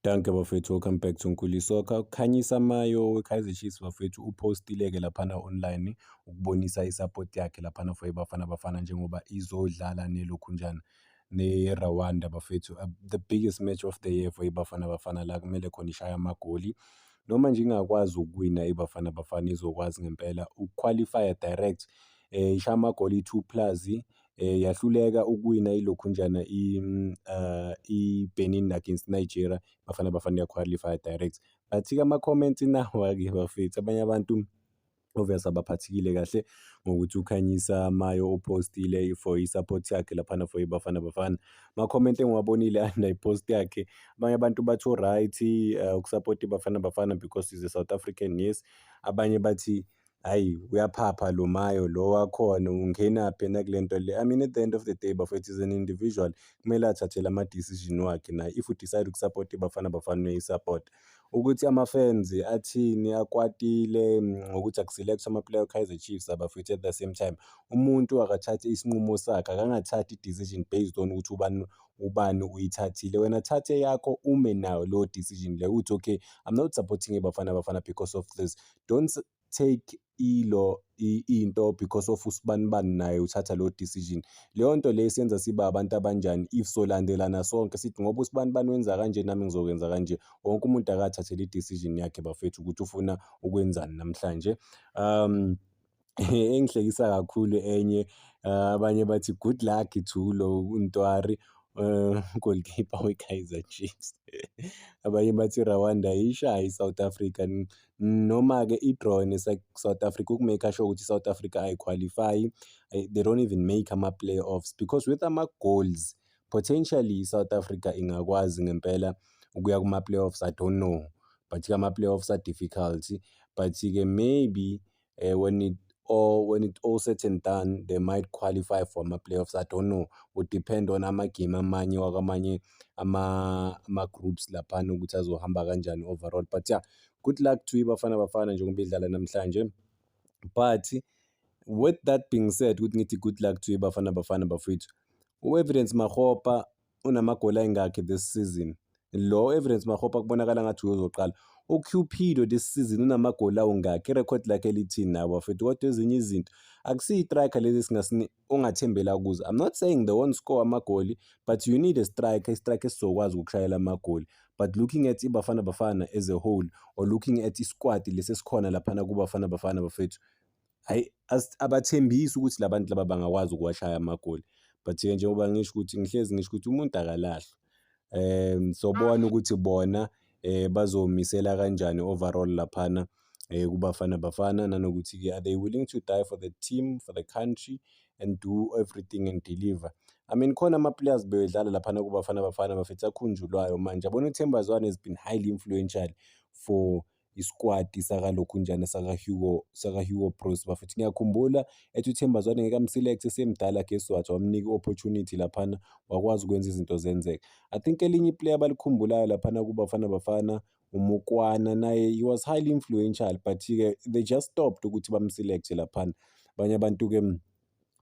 Danke bafethu, welcome back to Nkuli Soccer. Ukhanyisa Mayo weKaizer Chiefs bafethu uphostile-ke laphana online ukubonisa isapoti yakhe laphana for iBafana Bafana njengoba izodlala nelokhunjana ne-Rwanda bafethu. Uh, the biggest match of the year for iBafana Bafana la kumele khona ishaya amagoli. Noma nje ingakwazi ukuwina iBafana Bafana izokwazi ngempela ukuqualifya direct eh, ishaya amagoli i-two plus eh, yahluleka ukuwina ilokhunjana mm, ah, i-benin against nigeria bafana bafana yaqualify direct bathika ama-comments nawa-ke bafethu abanye abantu obviously abaphathekile kahle ngokuthi ukhanyisa mayo upostile for i-support yakhe laphana for ibafana bafana ma-comment engiwabonile under i-post yakhe abanye abantu bathi u-right uh, ukusapota ibafana bafana because is a south african yes abanye bathi Hayi uyaphapha lo mayo lo wakhona ungenaphi yena kule nto le. I mean at the end of the day bafethu is an individual kumele athathele ama-decision wakhe naye if udicide ukusapota iBafana Bafana uyayisapota. Ukuthi ama-fans athini akwatile mm, ngokuthi akuselect ama-player Kaizer Chiefs abafethu at the same time umuntu akathathe isinqumo sakhe akangathathi i-decision based on ukuthi ubani ubani uyithathile wena thathe yakho ume nayo leyo decision leyo uthi okay i'm not supporting ibafana bafana because of this don't take ilo into because of usibani bani naye uthatha lo decision leyo nto le senza siba abantu abanjani if solandelana sonke sithi ngoba usibani bani wenza kanje nami ngizokwenza kanje wonke umuntu akathathele i-decision yakhe bafethu ukuthi ufuna ukwenzani namhlanje um engihlekisa kakhulu enye ah, abanye bathi good luck to lo uNtwari um goalkeeper weKaizer Chiefs abanye bathi Rwanda ishaye iSouth Africa noma-ke i-draw neSouth Africa ukumake sure ukuthi iSouth Africa ayikhwalifayi eh, they don't even make ama-playoffs because with ama-goals potentially iSouth Africa ingakwazi ngempela ukuya kuma-playoffs I don't know but-ke ama-playoffs are difficult but-ke maybe uh, when it or when it all said and done they might qualify for ama-playoffs i don't know would depend on amagame amanye wakwamanye ama-groups ama laphana ukuthi azohamba kanjani overall but yeah good luck to ibafana bafana njengoba idlala namhlanje but with that being said ukuthi ngithi good luck to ibafana bafana bafethu u-evidence mahopa unamagoli ayingakhi this season lo evidence mahopa kubonakala ngathi uyozoqala ucupido this season unamagoli awungakhi irekhodi lakhe lithini nawo bafethu kodwa ezinye izinto akusiyi-striker lezi ongathembela kuzo i'm not saying the one score amagoli but you need a striker istriker esizokwazi ukushayela amagoli but looking at ibafana bafana as a whole or looking at isquad lesi esikhona laphana kubafana bafana bafethu hhayi abathembisi ukuthi la bantu laba bangakwazi ukuwashaya amagoli but-ke njengoba ngisho ukuthi ngihlezi ngisho ukuthi umuntu akalahlwa um sobona ukuthi bona um bazomisela kanjani overall laphana um kubafana bafana nanokuthi-ke are they willing to die for the team for the country and do everything and deliver i mean khona ama-players bedlala laphana kubafana bafana bafethu akhunjulwayo manje abona uthemba zwane has been highly influential for isikwati sakalokhunjana sakaHugo sakaHugo Broos bafethu ngiyakhumbula ethi uThemba Zwane ngeke amselect esemdala guess what wamnika opportunity laphana wakwazi ukwenza izinto zenzeka i think elinye iplayer abalikhumbulayo laphana kubafana bafana umukwana naye he was highly influential but ke they just stopped ukuthi bamselect laphana abanye abantu ke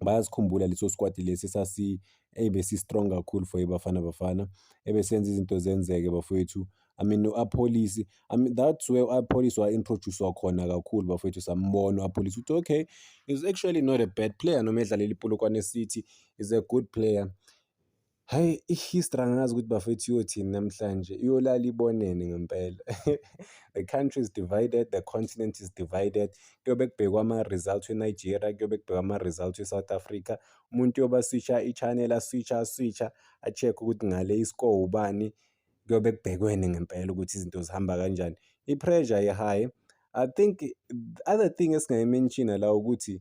bayasikhumbula leso squad lesi sasi ebesi strong kakhulu for ibafana bafana ebesenza izinto zenzeke bafowethu I mean u-apolice I mean that's where u-apolice wa-introduce wakhona kakhulu bafowethu sambona u-apolice ukuthi okay is actually not a bad player noma edlalela ipolokwane city is a good player Hhayi i-history angazi ukuthi bafethu iyothini namhlanje, iyolala ibonene ngempela. The country is divided, the continent is divided. Kuyobe kubhekwa ama-result e-Nigeria, kuyobe kubhekwa ama-result e-South Africa. Umuntu uyobe aswisha i-channel, aswisha, aswisha, a-check-e ukuthi ngale i-score ubani. Kuyobe kubhekwene ngempela ukuthi izinto zihamba kanjani. I-pressure i-high. I think the other thing esingayi-mention-a la ukuthi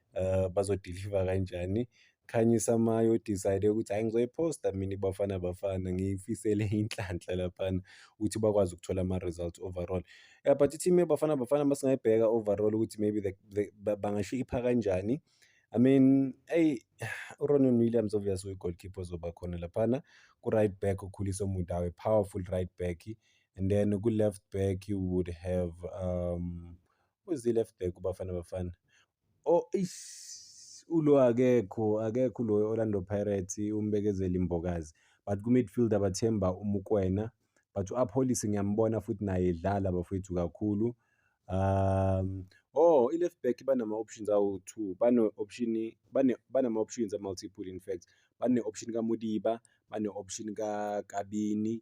um bazodiliva kanjani khanyisa maye odicide ukuthi hhayi ngizoyiphosta mina iBafana Bafana ngiyifisele inhlanhla laphana ukuthi bakwazi ukuthola ama-results overall um but i-team yeBafana Bafana uma singayibheka overall ukuthi maybe the, the, bangasho ipha kanjani I mean eyi uRonwen Williams obvious uyi-goalkeeper ozoba khona laphana ku-right back uKhuliso Mudawe powerful right back and then ku-left back you would have um Where's the left back uBafana Bafana? Oh ish ulo akekho akekho lo Orlando Pirates umbekezeli Mbokazi but ku midfield abathemba uMukwena but uApolice ngiyambona futhi naye edlala bafethu kakhulu um oh i left back banama options awu two bane option bane banama options a multiple in fact bane option kaMudiba bane option kaKabini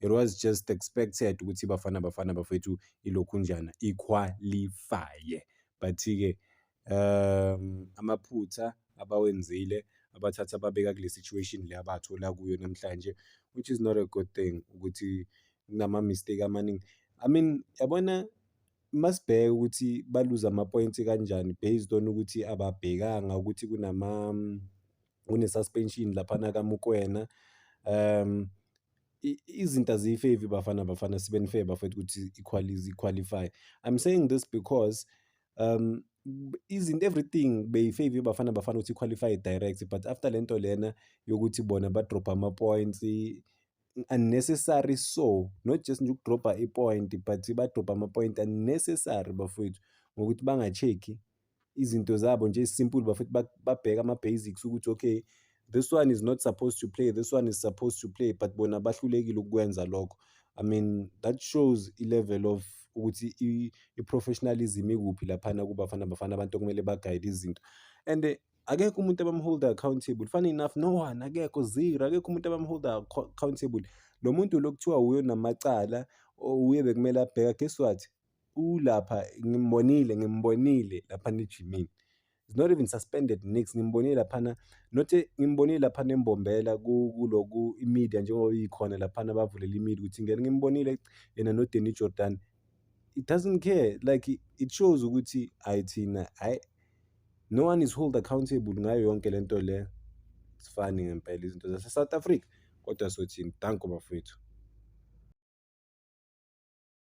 it was just expected ukuthi Bafana Bafana bafethu ilokhunjana iqualifye but-ke um amaphutha abawenzile abathatha babeka kule situation le abathola kuyo namhlanje which is not a good thing ukuthi kunama-mistake amaningi i mean yabona masibheke ukuthi baluze ama-points kanjani based on ukuthi ababhekanga ukuthi kunama kune-suspension laphana kamukwena um izinto aziyifevi bafana bafana sibe nifair bafethu ukuthi equalize qualify i'm saying this because um izinto everything beyifave bafana bafana ukuthi qualify direct but after le nto lena yokuthi bona badropha ama-points unnecessary so not just nje ukudropha i-point but badropha ama-point unnecessary bafowethu ngokuthi bangacheki izinto zabo nje simple bafuthi babheka ama basics ukuthi okay this one is not supposed to play this one is supposed to play but bona bahlulekile ukukwenza lokho i mean that shows i-level of ukuthi i-professionalism ikuphi laphana kubafana bafana abantu okumele bagayide izinto and eh, akekho umuntu abamholda accountable funny enough no one akekho zero akekho umuntu abamholda accountable lo muntu lo kuthiwa wuyo namacala uye bekumele abheka guess what ulapha ngimbonile ngimbonile lapha nejimini is not even suspended nix ngimbonile laphana not ngimbonile laphana embombela kuloku imedia njengoba ikhona laphana bavulela imedia ukuthi ngeke ngimbonile yena noDenny Jordan it doesn't care like it shows ukuthi ayithina hayi no one is hold accountable ngayo yonke lento le sifani ngempela izinto zase South Africa kodwa sothini danko bafowethu